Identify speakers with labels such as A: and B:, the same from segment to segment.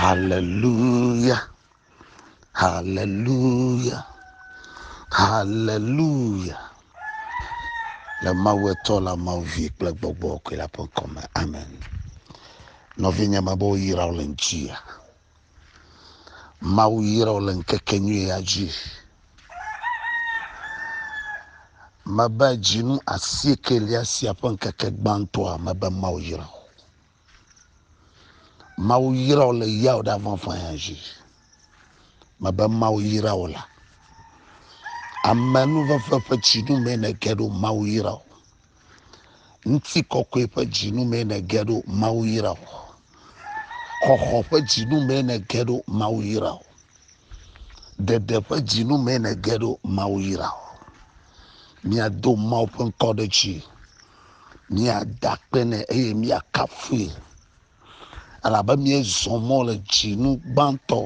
A: Haleluya, haleluya, haleluya. Le Mawu etɔ la Mawu vi kple gbɔgbɔ kɔe la ƒe ŋkɔ me. Amen. Nɔvinye me be woyra wo le ŋutia. Mawu yra wo le ŋkekenyui ya dzi. Mebe dzinu asieke lia sia ƒe ŋkeke gbãtɔa mebe Mawu yra wo. Mawu yra wò le yawo ɖe avɔnfɔya dzi. Mebe Mawu yra wò la. Ame nuvefe ƒe tsinu mee nège ɖo Mawu yra wò. Ŋuti kɔkɔe ƒe dzinu mee nège ɖo Mawu yra wò. Xɔxɔ ƒe dzinu mee nège ɖo Mawu yra wò. Ɖeɖe ƒe dzinu mee nège ɖo Mawu yra wò. Miado Mawu ƒe ŋkɔ ɖe dzi. Míada akpe nɛ eye míakafui, elabe míezɔ mɔ le dzinu gbãtɔ,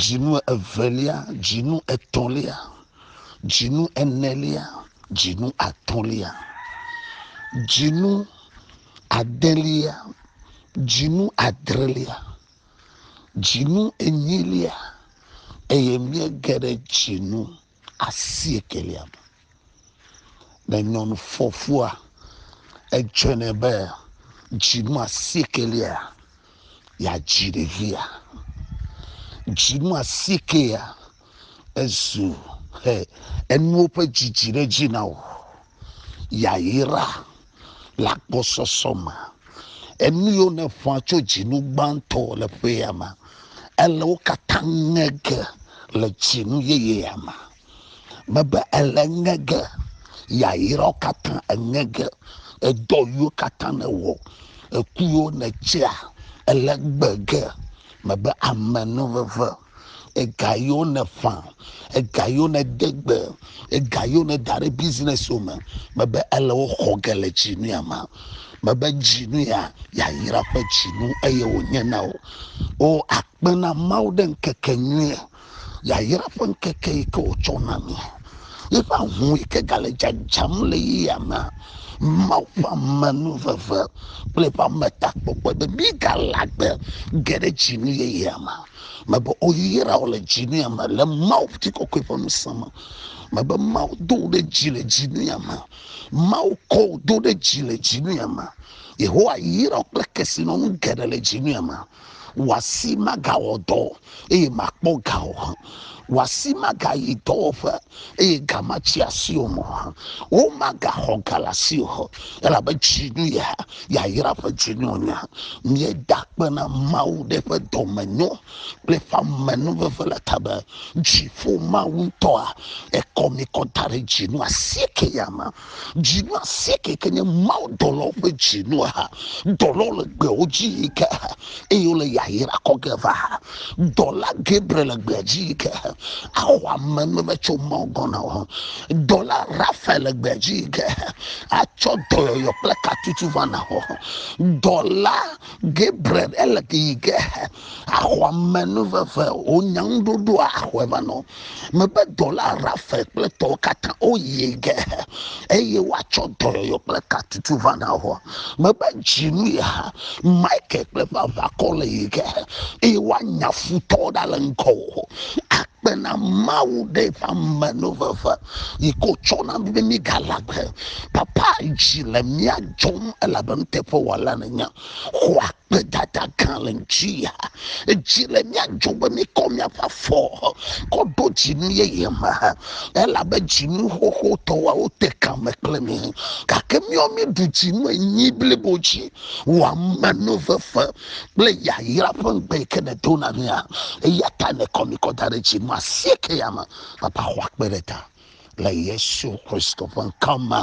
A: dzinu evelia, dzinu etɔ̃lia, dzinu enelia, dzinu atɔ̃lia, dzinu adelia, dzinu adrelia, dzinu enyilia, eye míege ɖe dzinu asiekɛlia me. Ne nyɔnu fɔfua edze nɛ be dzinu asiekɛlia yeadzi ɖevia, dzinu asiekɛlia ezu he enuwo ƒe dzidzi ɖe edzi na wò. Yayra. le agbɔsɔsɔ me. Enu yiwo nèƒã tso dzinu gbãtɔ le ƒea me, ele wo katã ŋe ge le dzinu yeyea me. Mebe ele ŋe ge, yayrawo katã eŋe ge, edɔ yiwo katã nèwɔ, eku yiwo nètsea, ele gbe ge. Mebe amenuveve. ega yiwo nèƒã ega yiwo nède gbe ega yiwo nèda ɖe bizinɛsiwo me mebe ele wo xɔ ge le dzinu ya me mebe dzinu ya yayra ƒe dzinu eye wònye na wò o akpe na mawu ɖe ŋkeke nyui yayra ƒe ŋkeke yi ke wòtsɔ na mi eƒe ahu yi ke gale dzadzam le yia me mawu ƒe amenuveve kple eƒe ametakpɔkpɔ be mígalagbe ge ɖe dzinu yeyea me Mebe oyra wò le dzi nuya me le Mawu ŋutikɔkɔe ƒe ŋusẽ me. Mebe Mawu do wò ɖe dzi le dzi nuya me. Mawu kɔ wò do ɖe dzi le dzi nuya me. Yehowa yra wò kple kesinɔnu geɖe le dzi nuya me. Wò asi magawɔ dɔ eye màkpɔ ga o. Wò asi magayi dɔwɔƒe eye ga matsi asi o mɔ hã. Womagaxɔ ga le asi o hã, elabe dzinu ye hã, yayra ƒe dzinu wònye. Míeda akpe na Mawu ɖe eƒe dɔmenyo kple eƒe amenuveve le ta be, dziƒo Mawu ŋutɔa ekɔ mí kɔ da ɖe dzinu asieke ya me. Dzinu asieke ke nye Mawu dɔlawo ƒe dzinu ha. Dɔlawo le gbewo dzi yi ke ha eye wole yayra kɔ ge va ha. Dɔla Gabriel le gbea dzi yi ke ha axɔ ame nume tso Mawu gbɔ na wo. Dɔla Raphael le gbea dzi yi ke ha atsɔ dɔyɔyɔ kple katutu va na wo. Dɔla Gabriel ele yi ke ha axɔ ame nuveve wò nyanuɖoɖoa axɔe va na wo. Mebe dɔla Rafael kple tɔwo katã woyi ge, eye woatsɔ dɔyɔyɔ kple katutu va na wò. Mebe dzinu ya Michael kple eƒe aʋakɔ le yi ge, eye woanya futɔwo ɖa le ŋgɔwò. Akpe na Mawu ɖe eƒe ame no veve, yi ke wòtsɔ na mí be míegalé agbe. Papa, dzi le mía dzɔm elabe nuteƒewɔla nènye. Xɔ gbedada gã le ŋutia. Edzi le mía dzɔ be míkɔ míaƒe afɔ kɔ ɖo dzinu yeye me elabe dzinu xoxo tɔ woawo te kame kple mí. Gake míawo míeɖu dzinu enyi blibo dzi wò amenuvefe kple yayra ƒe ŋugbe yi ke nèdo na mía. Eya ta nèkɔ mí kɔ da ɖe dzinu asiekɛ ya me. Papa xɔ akpe ɖe ta le Yesu Kristo ƒe ŋkɔ me.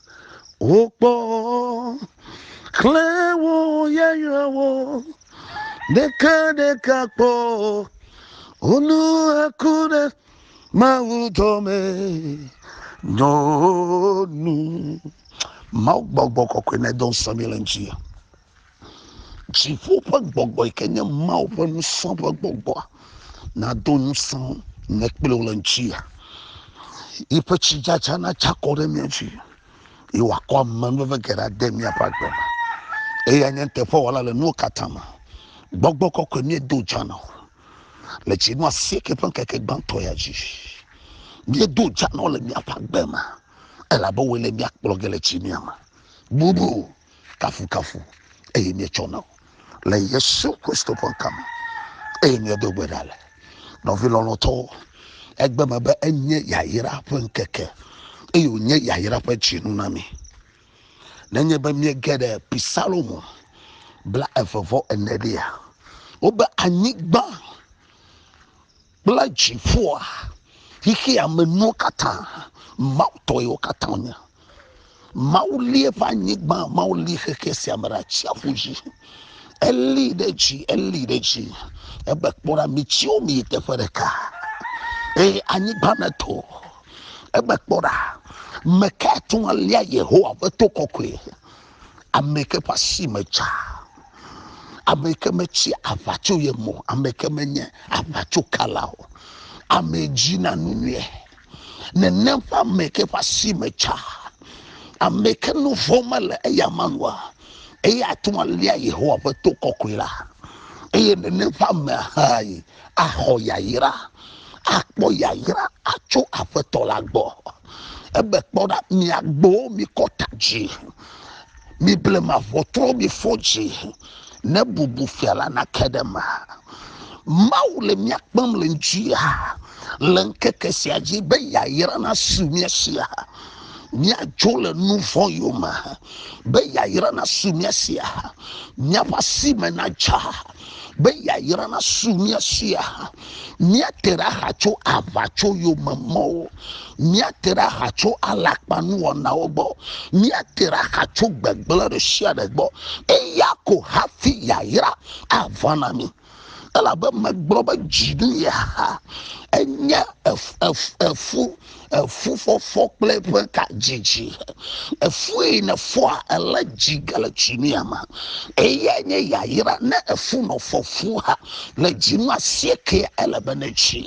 A: Wokpɔ xlẽ wo yayrawo ɖekaɖeka kpɔ, wonu eku ɖe Mawu dɔme nyɔnu. Mawu gbɔgbɔ kɔkɔe nedɔ ŋusẽ mí le ŋuti. Dziƒo ƒe gbɔgbɔ yi ke nye Mawu ƒe ŋusẽ ƒe gbɔgbɔ nado ŋusẽ nye kple wò le ŋutia. Yiƒe tsidzadza natsi akɔ ɖe mía dzi eye wòakɔ amenuveve geɖe ade míaƒe agbe me. Eya nye nuteƒewɔla le nuwo katã me. Gbɔgbɔ kɔkɔe míedo dza na wò le dzinu asieke ƒe ŋkeke gbãtɔ ya dzi. Míedo dza na wò le míaƒe agbe me elabe wòe le mía kplɔ ge le tsimia me. Bubu kafukafu eye míetsɔ na wo le yesu kristo ƒe ŋkɔ me eye míedo gbe ɖa le nɔvi lɔlɔtɔwo egbe me be enye yayra ƒe ŋkeke eye wònye yayra ƒe dzinu na mi nenye be míege ɖe pisalomo bla eve vɔ ene ɖia wobe anyigba kple dziƒoa xexea me nuwo katã mawu tɔ yewo katã wonye mawu li eƒe anyigba mawu li xexe sia me ɖe atsiaƒu dzi eli ɖe dzi eli ɖe dzi ebe kpɔ ɖa mitsiwo mi yi teƒe ɖeka eye anyigba me to ebe kpɔ ɖa meka atu alia yehowa ƒe to kɔkɔe ame ke ƒe asi me dza, ame ke metsi aʋa tso ye mo, ame ke menye aʋa tso kala o, ame dzi na nu nyuie, nenem ƒe ame ke ƒe asi me dza, ame ke nu vɔ̃ mele eya manua, eye ate ŋu alia Yehowa ƒe to kɔkɔe la, eye nenem ƒe amea hãe axɔ yayra, akpɔ yayra atso Aƒetɔ la gbɔ. Ebe kpɔ ɖa, mi agbowo, mikɔ ta dzi, mi blema ʋɔtruwo, mifɔ dzi, ne bubu fia la nake ɖe eme. Mawu le mía kpem le ŋutia le ŋkeke sia dzi be yayra nasu mía sia. Míadzo le nu vɔ̃ yome be yayra nasu mía sia. Míaƒe asi me nadza. be yayra nasu mía si aha. Míate ɖe axa tso aʋatsoyomemɔwo, míate ɖe axa tso alakpanuwɔnawo gbɔ, míate ɖe axa tso gbegblẽ ɖe sia ɖe gbɔ, eya ko hafi yayra ava na mí elabe megblɔ be dzi nu ye ha enye efu efu fɔfɔ kple eƒe ka dzidzi efue ne fɔa ele dzi gale tsi mi ama eya nye yayira ne efu nɔ fɔfu ha le dzinu asieke ele be ne tsi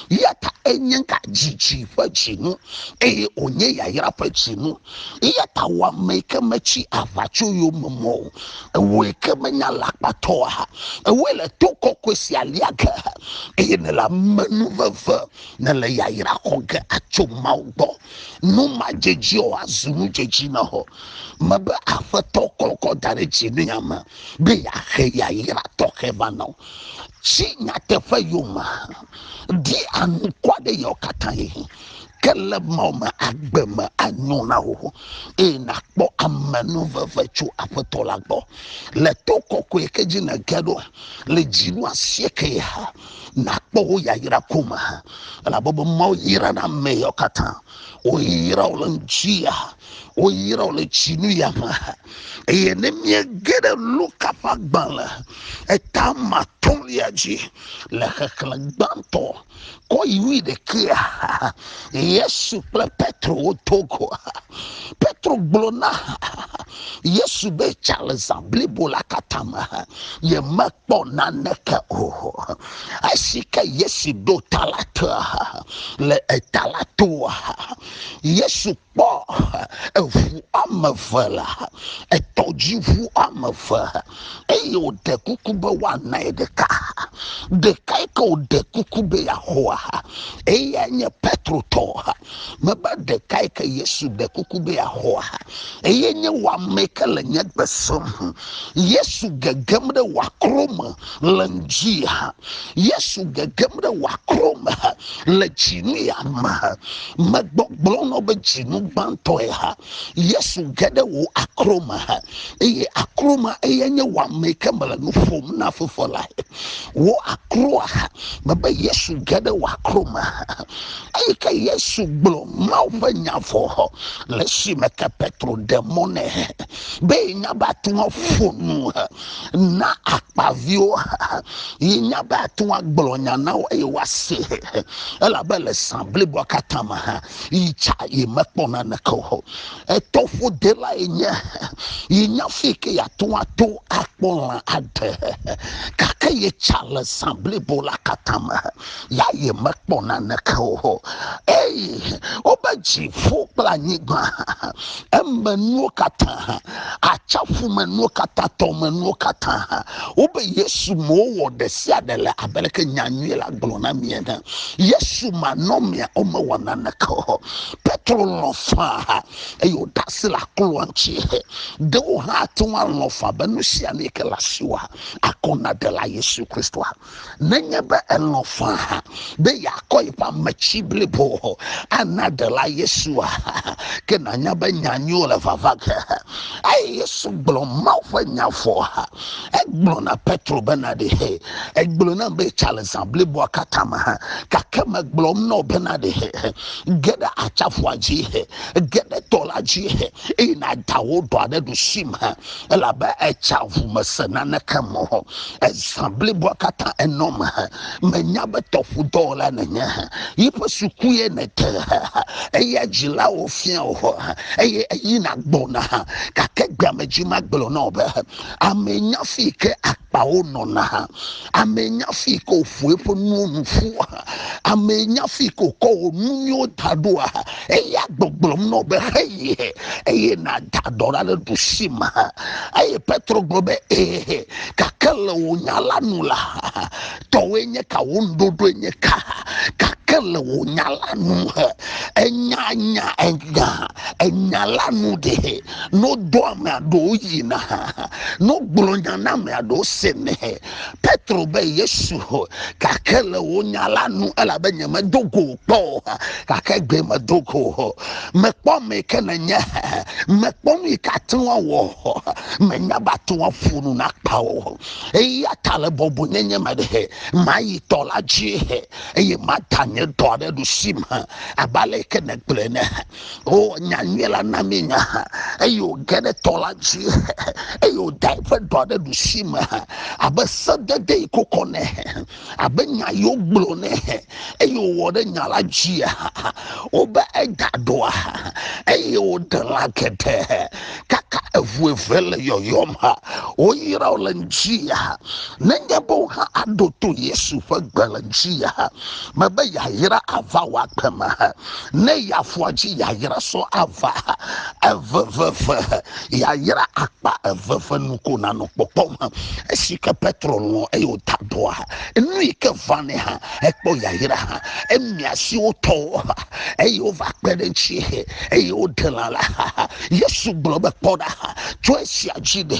A: ya ta enye ka dzidzi ƒe dzinu eye wònye yayira ƒe dzinu ya ta wɔ ame yi ke metsi aʋa tso yome mɔ o ewɔe ke menya le akpatɔ ha ewɔe le to kɔkɔe sia lia ge eye ne le amenu veve nèle yayra xɔ ge atso Mawu gbɔ. Nu madzedzi o azu nu dzedzi na wò. Mebe Aƒetɔ kɔkɔ da ɖe dzi ne ame be yeaxe yayra tɔxɛ va na wò. Tsi nyateƒe yome, ɖi anukwa ɖe yewo katã yi. Ke le Mawu me agbe me anyo na wò eye nàkpɔ amenuveve tso Aƒetɔ la gbɔ. Le to kɔkɔe ke dzi nège ɖo le dzinu asieke ya nakpɔ wo yayra ko me elabe be mawo yrana ame yawo katã woyra wo le ŋutia woyra wo le tsinu ya me eye ne miege ɖe luka ƒe agbalẽ eta matɔ̃lia dzi le xexlẽ gbãtɔ kɔ yi wui ɖekea yesu kple petro woto ko petro gblɔ na Yesu be tsa le zã blibo la katã me yemekpɔ naneke o. Esi ke Yesu ɖo ta la tea le eta la toa, Yesu kpɔ eŋu ame eve la, etɔdziŋu ame eve eye wòɖe kuku be woanae ɖeka. Ɖeka yi ke wòɖe kuku be yeaxɔa, eyae nye Petro tɔ. Mebe ɖekae ke Yesu ɖe kuku be yeaxɔa, eye nye wɔame ke le nye gbe sem. Yesu gegem ɖe wɔakro me le ŋdi ha. Yesu gegem ɖe wɔakro me ha le dzinu ya me ha. Megbɔgblɔ nɔ be dzinu gbãtɔe ha. Yesu ge ɖe wò akro me ha, eye akro ma eye nye wɔame ke mele nu ƒom na Fofoa lae. Wò akroa ha, mebe Yesu ge ɖe wò akro me ha. Eyi ke Yesu gblɔ Mawu ƒe nya vɔ le esime ke Petro ɖe mɔ nɛ be nya be ate ŋu aƒo nu na akpaviwo yi nya be ate ŋu agblɔ nya na wo eye woase elabe le zã bliboa katã me hã yi tsa yi mekpɔ naneke o. Etɔ ƒodela yi nye yi nya fi ke yeate ŋu ato akpɔ lã aɖe gake yi tsa le zã blibo la katã me. ya yemekpɔ naneke o eye wobe dziƒo kple anyigba emenuwo katã atsaƒu menuwo katã tɔmenuwo katã wobe yesu me wowɔ ɖe sia ɖe le abe leke nyanyui la gblɔ na mi ene yesu manɔmea womewɔ naneke o petro lɔ faa eye wòda asi le akloa ŋuti ɖe wo hã ate ŋu alɔ faa be nu sia nu yi ke le asiwa akɔ na ɖela yesu kristoa nenye be elɔ̃ faa be yeakɔ yeƒe ame tsi blibo ana ɖela Yesua, ke nànya be nya nyuiwo le vava ge. Eye Yesu gblɔ Mawu ƒe nya vɔ. Egblɔ na Petro bena ɖe egblɔ nam be tsa le zã bliboa katã me, gake megblɔm na wò bena ɖe ge ɖe atsaƒua dzi, ge ɖe tɔ la dzi, eye nàda wò ɖɔa ɖe ɖusime. elabe etsa ŋu mese naneke me o. Ezã bliboa katã enɔ me. Menya be tɔƒudɔwɔla nènye. Yiƒe sukue nète. Eya dzilawo fia o, eye eyina gbɔna. Gake gbea me dzi magblɔ na wò be, Amee nye afi yi ke kpawo nɔna hã ame nya fi ke wòƒo eƒe nuwo nu ƒu hã ame nya fi ke wòkɔ wò nu nyuiwo da ɖo hã eya gbɔgblɔm nɔ be heyi he eye nàda dɔ ɖa ɖe ɖusi me hã eye petro gblɔ be ee gake le wò nya la nu la tɔwoe nye ka wò nuɖoɖoe nye ka gake le wò nya la nu he enya nya enya enya la nu ɖe ne wodo amea ɖewo yina ne wogblɔ nya na amea ɖewo senɛ petro be yesu gake le wo nya la nu elabe nye medo go kpɔ o gake gbe medo go o mekpɔ ame yi ke nenye mekpɔ nu yi ke ate ŋu awɔ menya be ate ŋu aƒo nu nakpa o eya ta le bɔbɔnyenye me ɖe mayi tɔ la dzi eye mada nye dɔ ɖe ɖusi me abe ale yi ke negblɔe ne o nya nyuie la na mi nya eye wòge ɖe tɔ la dzi eye wòda eƒe dɔa ɖe ɖusi me abe sedede yi kokɔ nɛ abe nya yi wogblɔ nɛ eye wòwɔ ɖe nya la dzi wobe eda ɖoa eye wòɖe lã geɖe kaka eŋu eve le yɔyɔm woyra wo le ŋdi nenye be wo hã aɖo to yesu ƒe gbe le ŋdi mebe yayra ava wɔ agbe me ne yeafɔ dzi yayra sɔ ava eveveve yayra akpa eveve nu ko nanɔ kpɔkpɔm esi ke petro lɔ eye wòda dɔa nu yi ke vanɛ hã ekpɔ yayra hã emia si wotɔwo ha eye wova kpe ɖe ŋuti eye woɖe lã la ha yesu gblɔ be kpɔ ɖa ha tso esia dzi ɖe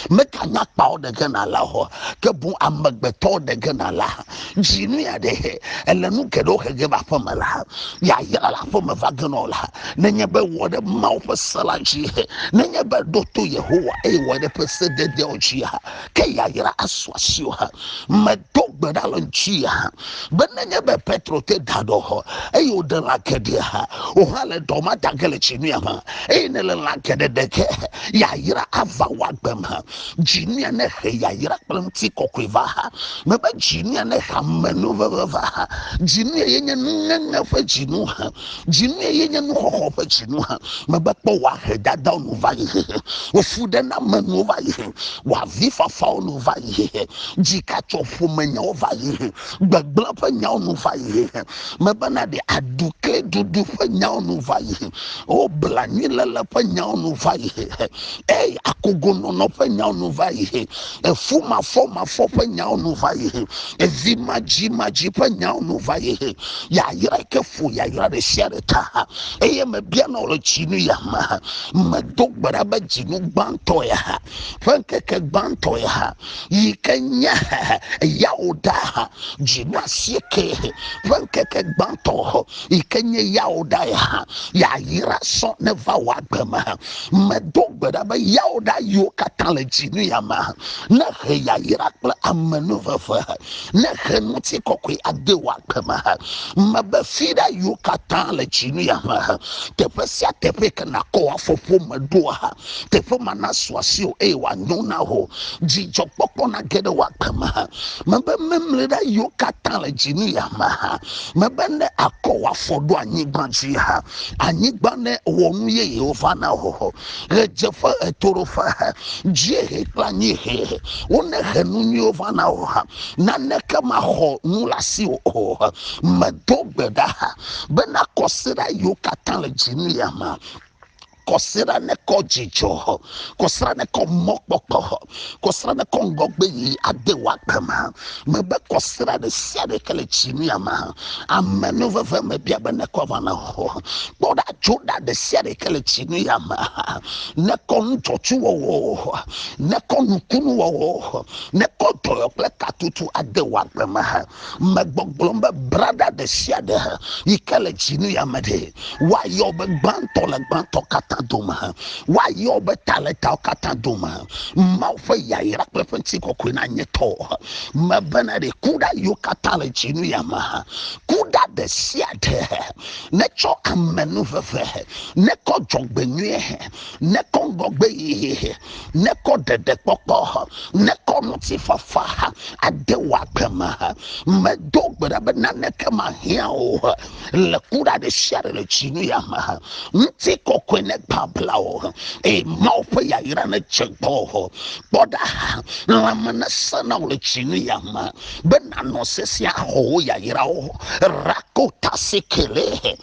A: meganya kpawo ɖe ge na la o ke boŋ amegbetɔwo ɖe ge na la ha dzi nu ya ɖe he ele nu geɖewo he ge be aƒeme la yayra le aƒeme va ge nɔ la nenye be wɔ ɖe mawo ƒe se la dzi he nenye be ɖo to yehowa eye wɔ ɖe ƒe se dedeawo dzi ha ke yayra asu asiwo ha medo gbe ɖa le ŋuti ha be nenye be petro te da ɖɔ hɔ eye wòɖe lã geɖe ha wòhã le dɔ ma da ge le dzi nu ya ma eye ne le lã geɖe ɖe ge yayra ava wɔ agbem ha Dzinia nehe yayra kple ŋutikɔkɔe va ha. Mebe dzinia nehe amenuveve va ha. Dzinia ye nye nuŋeŋe ƒe dzinu ha. Dzinia ye nye nuxɔxɔ ƒe dzinu ha. Mebe kpɔ wòahe dadawo nu va yi hehe. Wòfuɖenamenuwo va yi he. Wòavifafawo nu va yi hehe. Dzikatsoƒomenyawo va yi he. Gbegblẽ ƒe nyawo nu va yi hehe. mebena ɖe aɖukliɖuɖu ƒe nyawo nu va yi o blanuiléle ƒe nyawo nu va yi eye akogonɔnɔ ƒe nyawo nu va yi efumafɔmafɔ ƒe nyawo nu va yi evimadzimadzi ƒe nyawo nu va yi yayra ke ƒo yayra ɖe sia ɖe ta ha eye mebiana wò le dzinu ya me medo gbe ɖa be dzinu gbãtɔ ya ha ƒe ŋkeke gbãtɔ ya ha yi ke nye yawuɖa dzinu asieke ƒe ŋkeke gbãtɔ yi ke nye yawuɖa ya yayra sɔ ne va wò agbe me medo gbe ɖa be yawuɖa yiwo katã le dzinu ya me ne he yayra kple amenuveve ne he ŋuti kɔkɔe ade wò agbe me mebe fi ɖa yiwo katã le dzinu ya me teƒe sia teƒe ke nakɔ afɔƒo me ɖoa teƒe ma nasu asi o eye wòanyo na wò dzidzɔkpɔkpɔ nage ɖe wò agbe me ha mebe memlɔɖa yiwo katã le dzi nu ya me ha mebe ne akɔ wò afɔ ɖo anyigba dzi ha anyigba ne wɔ nu yeyewo va na wò ɣedzeƒe ɣetoɖoƒe ha dziehe kple anyiehe wone he nu nyuiwo va na wò ha naneke maxɔ nu le asi wò o ha medo gbe ɖa ha be nakɔ se ɖa yiwo katã le dzi nu ya me kɔsiɖa nekɔ dzidzɔ, kɔsiɖa nekɔ mɔkpɔkpɔ, kɔsiɖa nekɔ ŋgɔgbe yi ade wò agbe me. Mebe kɔsiɖa ɖe sia ɖe ke le tsinia me. Ame nu veve me bia be nekɔ va na wò. Kpɔ ɖa tso ɖa ɖe sia ɖe ke le tsinia me. Nekɔ nudzɔtsuwɔwɔ, nekɔ nukunuwɔwɔ, nekɔ dɔyɔ kple katutu ade wò agbe me. megbɔgblɔm be brada ɖe sia ɖe yi ke le dzinu ya me ɖe woayɔ be gbãtɔ le gbãtɔ katã dome woayɔ be ta le tawo katã dome mawu ƒe yayra kple ƒe ŋuti kɔkɔe na nye tɔ mebena ɖe ku ɖa yiwo katã le dzinu ya me ku ɖa ɖe sia ɖe netsɔ amenuveve nekɔ dzɔgbenyuie nekɔ ŋgɔgbe yihe nekɔ ɖeɖekpɔkpɔ, nekɔ ŋutifafa ade wò agbe me. Medo gbe ɖa be naneke mahiã wò le kuɖa ɖe sia ɖe le tsinu ya me. Ŋuti kɔkɔe negbabla wò, eye Mawu ƒe yayra nedze gbɔwò. Kpɔ ɖa, lãme nesẽ na wò le tsinu ya me, be nànɔ sesẽ axɔ wò yayrawo. Rakota sikele.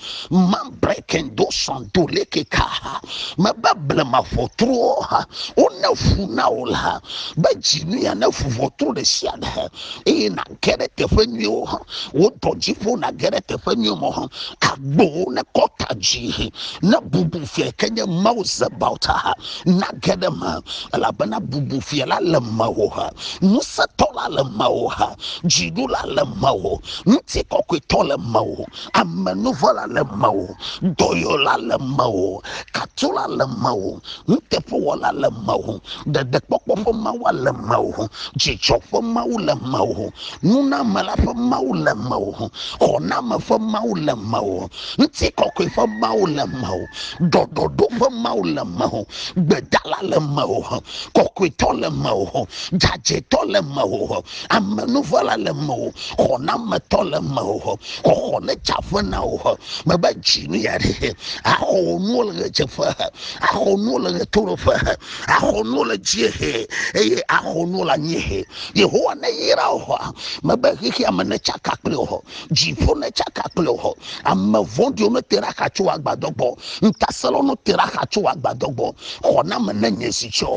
A: breaking do sɔn do leke ka ha mebe blema ʋɔtruwo ha wone fu na wo la be dzinu ya ne fu ʋɔtru ɖe sia ɖe eye nage ɖe teƒe nyuiwo ha wo dɔ dzi ƒo nage ɖe teƒe nyuiwo me ha agbowo ne kɔta dzi ne bubu fia ke nye mawu zebaota ha nage ɖe me elabena bubu fia la le mewò ha ŋusẽtɔ la le mewò ha dziɖula le mewò ŋuti kɔkɔetɔ le mewò amenuvɔla le mewò dɔyɔla le mewò katula le mewò nuteƒewɔla le mewò ɖeɖekpɔkpɔ ƒe mawa le mewò dzidzɔ ƒe mawu le mewò nunamela ƒe mawu le mewò xɔname ƒe mawu le mewò ŋuti kɔkɔe ƒe mawu le mewò ɖɔɖɔɖo ƒe mawu le mewò gbedala le mewò kɔkɔetɔ le mewò dzadzɛtɔ le mewò amenuvɔla le mewò xɔnametɔ le mewò xɔxɔ ne tsa ƒe na wò mebe dzi nu ya ɖe axɔ wò nuwo le ɣedzeƒe axɔ wò nuwo le ɣetoɖoƒe axɔ wò nuwo le dziehe eye axɔ wò nuwo le anyiehe yehowa ne yra wò mebe xexeame ne tsaka kple wò dziƒo ne tsaka kple o ame vɔ̃ɖiwo ne te ɖe axa tso agbadɔ gbɔ ŋutasẽlawo ne te ɖe axa tso agbadɔ gbɔ xɔname ne nye si tse o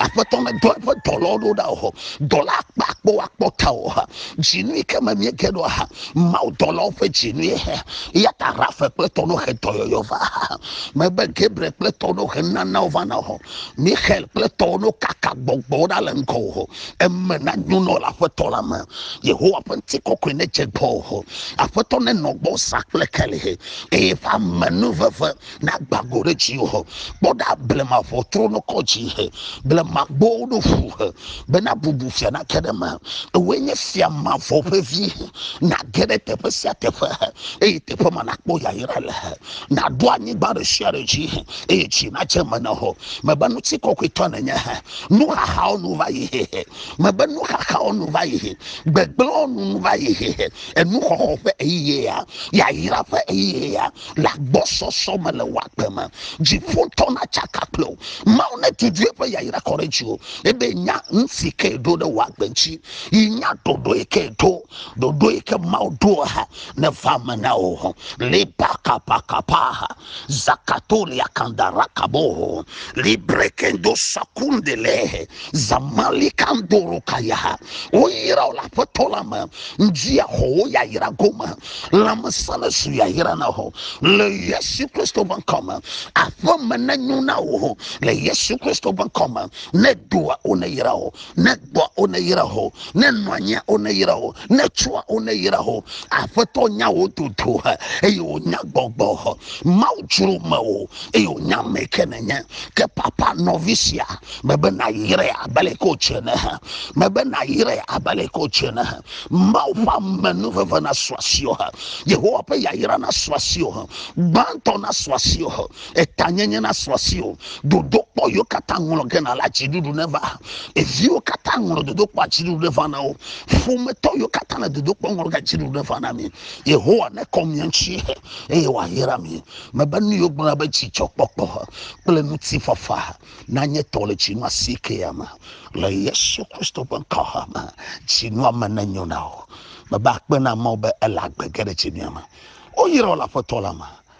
A: aƒetɔ ne dɔ eƒe dɔlawo ɖo ɖa o dɔla akpa akpɔ akpɔ ta o dzinui ke me mie ge ɖo ha mawu dɔlawo ƒe dzinui ya ta rafe kple tɔ no xe dɔyɔyɔ va mebe gabriel kple tɔ no xe nanawo va na o mixel kple tɔwo no kaka gbɔgbɔwo ɖa le ŋgɔ o eme nanyo nɔ le aƒetɔ la me yehowa ƒe ŋuti kɔkɔe ne dze gbɔ o aƒetɔ ne nɔ gbɔ sa kple keli eye ƒe ame nu veve na gbago ɖe dzi o kpɔ ɖa blema ʋɔtro no kɔ dzi he blema gbowo ɖo ƒu he bena bubu fia na ke ɖe me ewoe nye fia mavɔ ƒe vi na ge ɖe teƒe sia teƒe he eye teƒe ma nakpɔ yayra le he nàɖo anyigba ɖe sia ɖe dzi eye tsi nadze eme na wò. Mebe ŋuti kɔkɔetɔ nènye. Nuxaxawo nu va yi. Mebe nuxaxawo nu va yi. Gbegblẽwo nu nu va yi. Enuxɔxɔ ƒe ɣeyiɣia, yayra ƒe ɣeyiɣia le agbɔsɔsɔ me le wò agbe me. Dziƒotɔ natsaka kple wò. Mawu netutu eƒe yayra kɔ ɖe dziwò ebe nya nu si ke ɖo ɖe wò agbe ŋuti yi nya ɖoɖoe ke ɖo. ɖoɖo yi ke mawu ɖo ha ne va me na wo ho liba kapakapa ha zakatolia kandara kabo ho librekendo sakundele zamali kandoro kaya ha woyra wo le aƒetɔ la me ŋdzi axɔ wo yayra gome lãmesẽ ne su yayra na ho le yesu kristo ƒe ŋkɔ me aƒeme ne nyo na wo ho le yesu kristo ƒe ŋkɔ me ne doa wo ne yra wo ne gbɔa wo ne yra ho ne nɔanyia wo ne yra ho ne tsua wo ne yra ho aƒetɔ nya wo dodo he eye wònya gbɔgbɔ ho mawu dzro me o eye wònya me ke nenye ke papa nɔvi sia mebe nayrae abe le ko tse ne he mebe nayrae abe le ko tse ne he mawu ƒe amenu veve na suasio he yehowa ƒe yayra na suasio he gbãtɔ na suasio he eta nyenye na srɔ̃ si o dodo kpɔ yiwo katã ŋlɔ ge na la dziɖuɖu ne va eviwo katã ŋlɔ dodo kpɔ dziɖuɖu ne va na wo ƒometɔ yiwo katã le dodo kpɔ ŋlɔ ge dziɖuɖu ne va na mi yehowa ne kɔ mia ŋuti eye wòayra mi mebe nu yiwo gblɔna be dzidzɔkpɔkpɔ kple ŋutifafa nanye tɔ le dzinu asiekea me le yesu kristo ƒe ŋkɔ me dzinua me nenyo na wo mebe akpe na mawo be ele agbe ge ɖe dzinua me woyra wo le aƒetɔ la me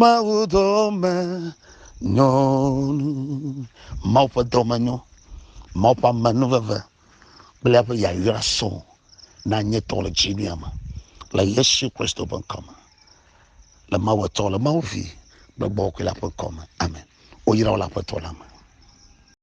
A: Mawudɔme nyɔnu. Mawu ƒe dɔme nyɔ. Mawu ƒe amenuveve kple eƒe yayra sɔ na nye tɔ le dzinia me le Yesu Kristo ƒe ŋkɔ me. Le Mawu etɔ le Mawu vi kple gbɔgbɔ kɔe la ƒe ŋkɔ me. Amen. Woyra wo le aƒetɔ la me.